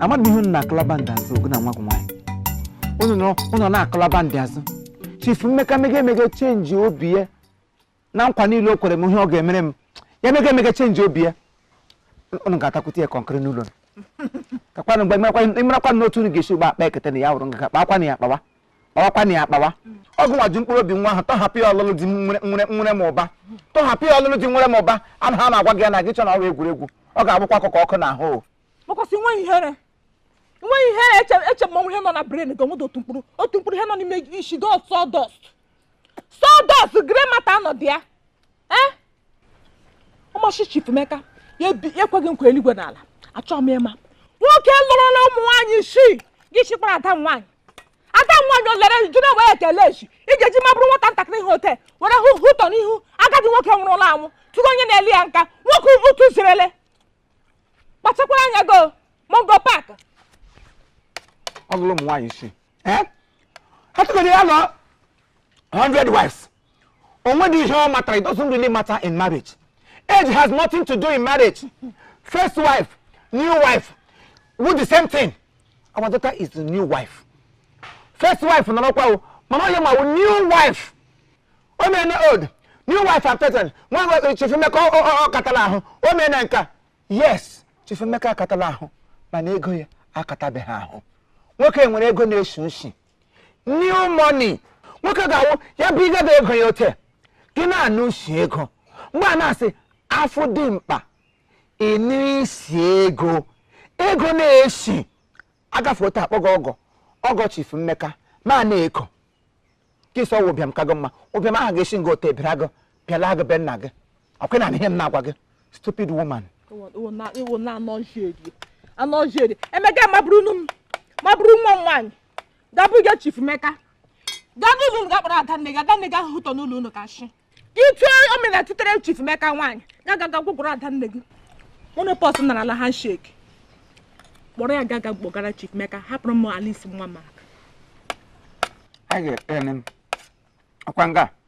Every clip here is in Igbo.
amadị m ihe unu na-akụlaba ndị azụ ọ gị na nwa gị nwaanyị unu nọ unu na-akụlaba ndị azụ chief mmeka mega emega change obi ya na nkwa niile o kwere m ihe ọ ga-emere m ya mega emega change obi ya unu ga-atakwute ya kọnkịrị n'ụlọ kakwanụ mgbe ị marakwa na otu unu ga-esi gba akpa ekete na ya wụrụ nga kpakwa na ya kpawa ọkwa na ya akpawa ọ gị nwa ji mkpụrụ obi nwa ahụ tọhapụ ya ọlụlụ di nwere m ụba tọhapụ ya ọlụlụ di nwere m ụba ana ha na-agwa gị ya na gị che na ọ wụ egwuregwu ọ ga-abụkwa akụkọ ọkụ n'ahụ makwasị nwe ihere nwe ihere eche mmanwụ ihe nọ na brain gị o nwedị otu mkpụrụ otu mkpụrụ ihe nọ n'ime isi ọ sawdust sawdust grey matter anọdụ ya eh? ọ masị Chief Mmeka ya ekwe gị nkwa eluigwe na ala achọghị m ịma nwoke lụrụla ụmụ nwaanyị isii gị chịkwara ada m nwaanyị ada m nwaanyị o lere jụrụ enwe ya ekele echi ị ga-eji mabụrụ nwata ntakịrị ha ote were hụ hụtọ n'ihu agadi nwoke nwụrụla anwụ tụrụ onye na-eli ya nka nwoke ụtụ zirele kpachakwara anya gị Mungo Park ọ lụrụ ụmụ nwaanyị isii eh? ha tụgoro ya lụọ 100 wives o nwedị ihe ọ matara it doesn't really matter in marriage age has nothing to do in marriage first wife new wife wụ the same thing our daughter is the new wife first wife nọrọkwa o mana onye ma new wife o mere old new wife and person nwa nwe chief mmeka akatala ahụ o mere nka yes chief mmeka akatala ahụ mana ego ya akatabeghị ahụ nwoke nwere ego na-eshi ishi new money nwoke ga-awụ ya bụ ị gaba ego ya ote gị na-anụ isi ego mgbe a na-asị afọ dị mkpa ịnụ isi ego ego na-esi agafe ote okpogho ọgọ ọgọ chief mmeka ma na-eko gị sị ọ wụ ụbịam ka gị mma ụbịam ahụ ga-esi nga ote bịara gị bịala gị be nna gị ọkwa na ihe m na-agwa gị stupid woman iwu na anọjeri emeka mabụrụ m mabụrụ nwa m nwaanyị gabụ gị chief mmeka gaa n'ụlọ unu ga kpọrọ ada nne gị ada nne gị ahụ hụtọ n'ụlọ unu ka shi itu omena tutere chief mmeka nwaanyị ga gaga gwụgwụrụ ada nne gị ụnụ pọs nara ala handshake kpọrọ ya gaga kpọgara chief mmeka hapụrụ m Alice nwa m aka ọkwa nga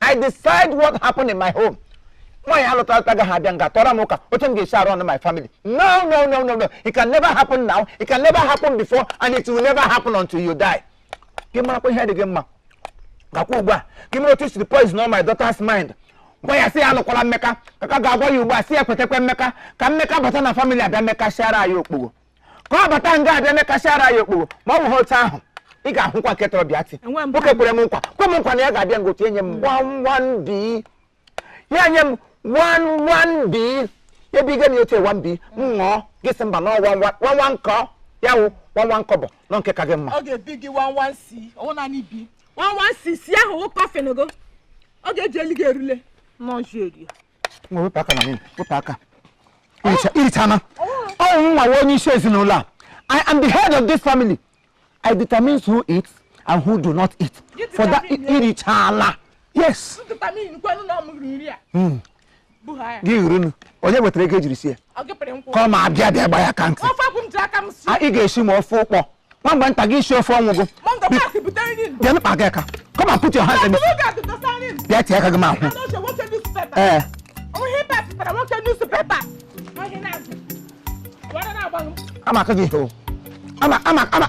i decide what happened in my home nwaanyị a lụtara alụta agaghị abịa nga tọrọ m ụka otu m ga-esi run my family no no no no no it can never happen now it can never happen before and it will never happen until you die gị marakwa ihe dị gị mma gakwa ugbu a gị mara otu i siri poison my daughter's mind gwa ya sị ya alụkwala mmeka ka ka ga-agwa ya ugbu a sị ya kwetakwa mmeka ka mmeka bata na family abịa mmeka siara anyị okpogho ka ọ bata nga abịa mekasị ara ya okporo ma ọ bụghị otu ahụ ị ga-ahụkwa nke tọrọ bịa ti Enwe m nwoke kwere m nkwa kwe m nkwa na ya ga-abịa ngotu enye m one one B ya nye m one one B ebe ige m ya otu one B m ṅụọ gị sị mba na ọ wụ one one car ya wụ one one car bụ nọ nke ka gị mma ọ ga-ebi gị one one C ọ wụ naanị B one one C C ahụ wụ coffin gị ọ ga-eji elu gị erule n'ọjụ eri wepụ aka na wepụ aka i richana ọ wụ mụwa wụ onye isi ezinụlọ a I am the head of this family I determine who eats and who do not eat for that i richala yes hmm. gị hụrụnụ onye wetara ego e jiri sie ya come on bịa bịa gba ya ka ntị ị ga-esi ma ofe ụkpọ nwamba nta gị isi ofe ọnwụ gị bịa mkpa gị aka come and put your hand in bịa tie aka gị ma hụ ee ama aka gị hoo ama ama ama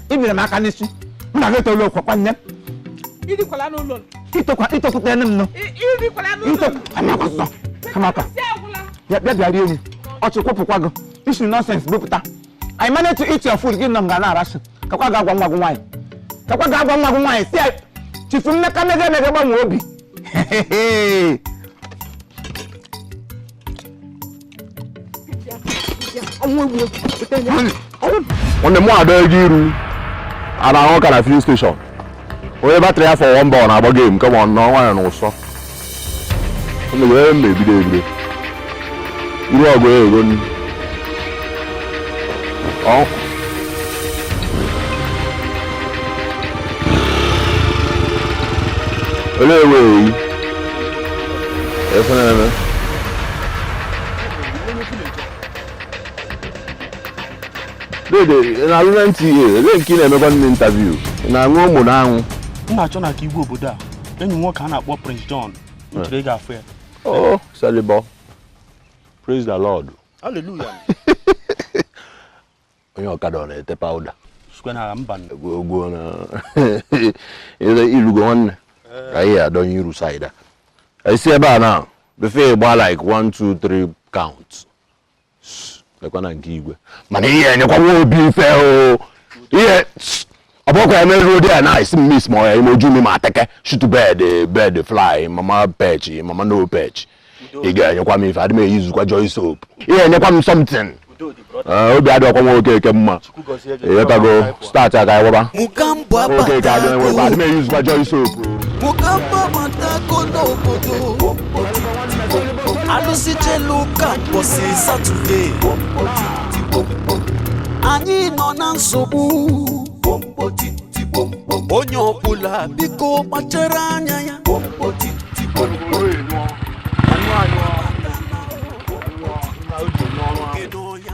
i biri m aka n'isi m na gị etoolu okwu kwa nne i tokwute nne m nọ i tokwute nne m nọ bịa bịa rie nri ọchị kwụpụkwa gị isi nonsense bupụta I managed to eat your food gị nọ nga na-arasu kakwa ga-agwa nwa gị nwaanyị kakwa ga-agwa nwa gị nwaanyị si Chief Emeka mega emega gbanwe obi nwanne m Adaego iru a na-ahụ ka na filling station onye batrị ya fọ one bar ọ na-agba game kama ọ nọ nwaanyị n'ụsọ mgbe ebido ebido ịriọ gị ego nri olee ewe eyi efe na-eme Dede, ị na-alụ na NTA, ebe nke ị na-emekwa ndị interview, ị na-aṅụ ụmụ na anwụ. M na-achọ na ka igwe obodo a, enyi nwoke a na-akpọ Prince John, m chere ị ga-afụ ya. Oh, Salibọ. Praise the Lord. Hallelujah. Onye ọkada ọ na-ete powder. Sukwe na mba nne. Ogwo na i lugo nwanne. Ka anyị adọnye iru side. I si ebe a na, before ị gba like one, two, three count. lekwa na nke igwe mana ị ya-enyekwa nwa obi ife o ihe ọ bụkwa ya meruo dị ya n'isi miss ma ọ ya ime oju mi ma take shoot bird bird fly mama perch mama no perch ị ga-enyekwa m ife adị m e-usekwa Joy soap ị ya-enyekwa m something obi adịghịkwa nwa Okeke mma ịghọtago starch a ka anyị wụba Mogambo okay ka anyị wụba abatago. adị m eyuzikwa joy soap Mogambo abatago n'obodo. Alụsị jelu ụka mbọsị Satọde. Anyị nọ na nsogbu. Onye ọbụla biko kpachara anya ya. Kedu ya?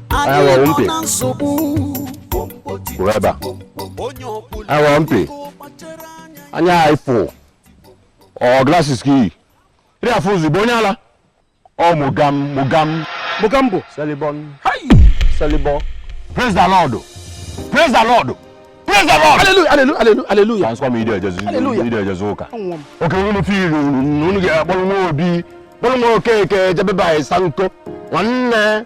Anyị nọ na nsogbu. Kwụrụ ebe a. Anyị ghọrọ mpi. Anya anyị fụ. Ọ glasses ka i yi. Ị na-afụ ụzọ bụ onye ala. Ọ Mogam Mogam. Mogambo. Selibọn. Selibọ. Praise the Lord. Praise the Lord. Praise the Lord. Hallelujah, hallelujah, hallelujah, hallelujah. Transfer me ide ejezu. Hallelujah. Ide ejezu ụka. Okay unu fi iru unu ga-akpọrọ nwa obi. Kpọrọ nwa okeke jebe ba ịsa nko. Nwanne.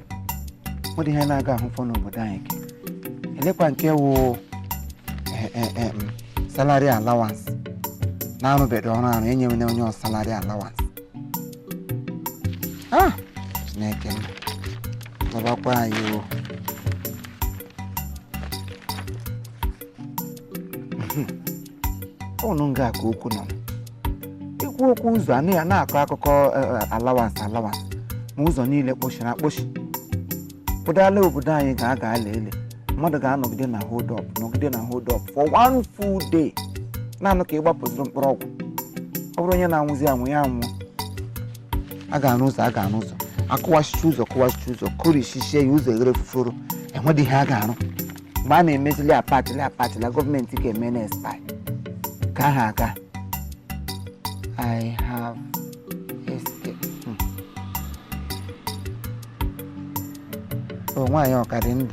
ọ dị ihe a na-aga ahụfọ n'obodo anyị elekwa nke wụ eh, eh, eh, mm, salary allowance na arụbedị ọrụ arụ enyewena onye ọ salary allowance ah chineke m zọbakwa anyị o ọ wụ nga a ka okwu nọ i kwuo okwu ụzọ a nọ ya na-akọ akụkọ allowance allowance ma ụzọ niile kpochiri akpochi ụdala obodo anyị ga aga ala ele mmadụ ga-anọgide na hold up nọgide na hold up for one full day naanị ka ị gbapụ zụrụ mkpụrụ ọgwụ ọ bụrụ onye na-anwụzi anwụ ya anwụ a ga-arụ ụzọ a ga-arụ ụzọ akụwachicha ụzọ kụwachicha ụzọ kụrichichie ya ụzọ eghere fuforo enwedị ihe a ga-arụ mgbe a na-emezili apatili apatila gọọmenti ga-emena expire ka ha aga i have escaped. Hmm. o nwaanyị ọ ka dị ndụ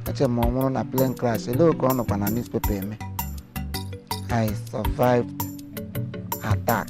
eche m ọ nwụrụ na plane crash ele okay ọ nọkwa na newspaper eme i survived attack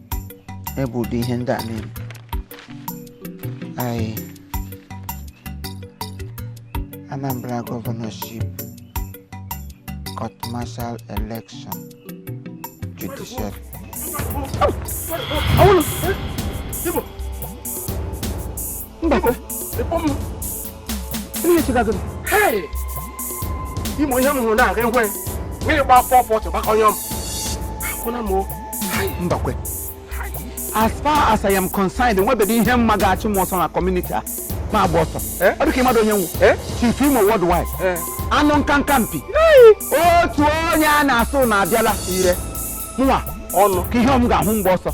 ebe ụdị ihe ndị a na-eme anyị Anambra Governorship Court Martial Election Judiciary Awolo! Ibo! imo ihe m hụrụ na-aga ekwe gị gba four forty gbakọnyọ m akwụna m mbakwe as far as I am concerned enwebedị ihe m ma ga-achụ m ọsọ na community a ma agba ọsọ eh? ọ dịka ị madụ onye m wụ eh? chief imo worldwide eh? anụ nkanka mpi otu onye a na-asị ụnụ abịala ire nwa ọnụ ka ihe m ga-ahụ m gbaa ọsọ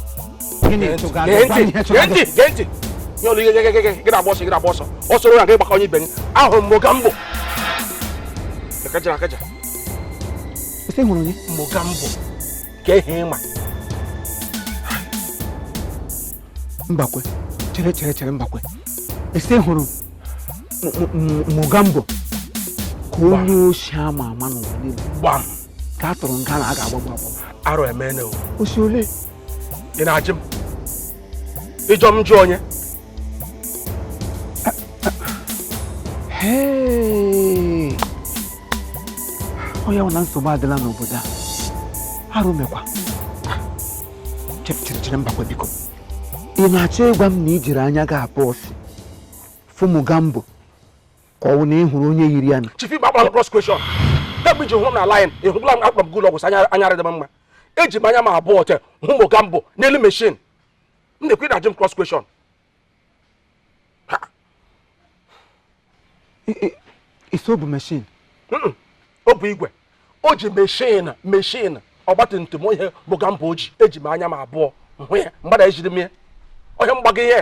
mbakwe chere chere chere mbakwe ị sị ị hụrụ mogambo ka onye oshi a ma ama n'ụwa niile ka a tụrụ nga na a ga-agbagbu agbagbu arụ emene o ọ sị ole ị na-ajụ m ị jụọ m m jụọ onye ọ ya wụ na nsogbu adịla n'obodo a arụ mekwa chere chere chere mbakwe biko ị na-achọ ịgwa m na i jiri anya gị abụọ sị fụ mogambo ka ọ wụ na ị hụrụ onye yiri ya na chief ị gbagbara cross question kemgbe i ji hụrụ m na line ị hụbụla m a kpọrọ m ga ụlọ ọgwụ sị anya anya adịghị m mma eji m anya m abụọ te hụ mogambo n'elu machine m na-ekwu ị na-ajụ m cross question ị sị ọ bụ machine ọ bụ igwe o ji machine machine ọgbatumtum ihe mogambo ji eji m anya m abụọ hụ ya mgbada ejiri m ya onye mgbago ihe